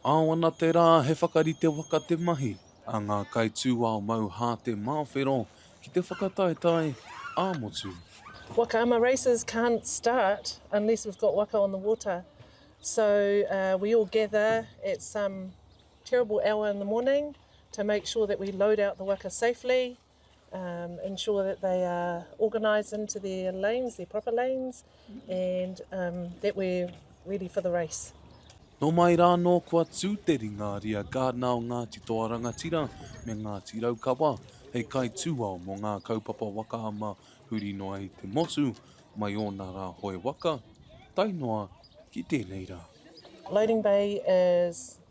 Ao ana te rā he whakarite waka te mahi a ngā kaitūao mau hā te māwhero ki te whakataetae ā-motu. Waka ama races can't start unless we've got waka on the water so we all gather at some terrible hour in the morning to make sure that we load out the waka safely. um, ensure that they are organised into their lanes, their proper lanes, and um, that we're ready for the race. Nō mai rā nō kua tū te ringa ria Gardner o Ngāti Toa Rangatira me Ngāti Raukawa hei kai tūao mō ngā kaupapa waka ama huri noa i te motu mai ōna rā hoe waka, tae noa ki tēnei rā. Loading Bay is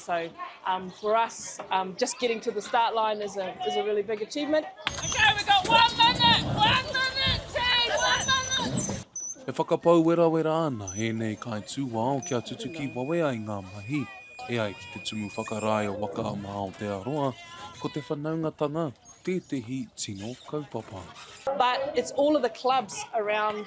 So um, for us, um, just getting to the start line is a, is a really big achievement. Okay, we got one minute, one minute, two, one minute. E whakapau werawera ana ēnei kai tūwao kia tutuki wawe ai ngā mahi. E ai ki te tumu whakarae o Waka Ama Aotearoa, ko te whanaungatanga tētehi tino kaupapa. But it's all of the clubs around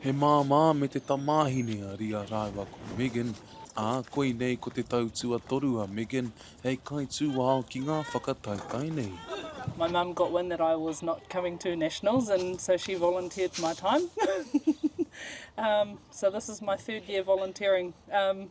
He māmā me te tamāhine a Ria rāua ko Megan, ā, koinei ko te tau tuatoru a Megan hei kaitūao ki ngā whakataetae nei. My mum got wind that I was not coming to Nationals and so she volunteered my time. um, so this is my third year volunteering. Um,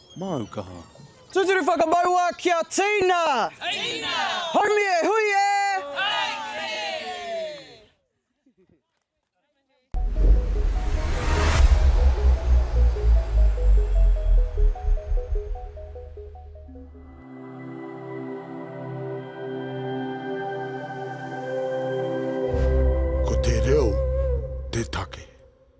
Māu kaha. Tūturu whakamaua ki a Tina! Tina! Haumi e hui e! Haumi e hui e!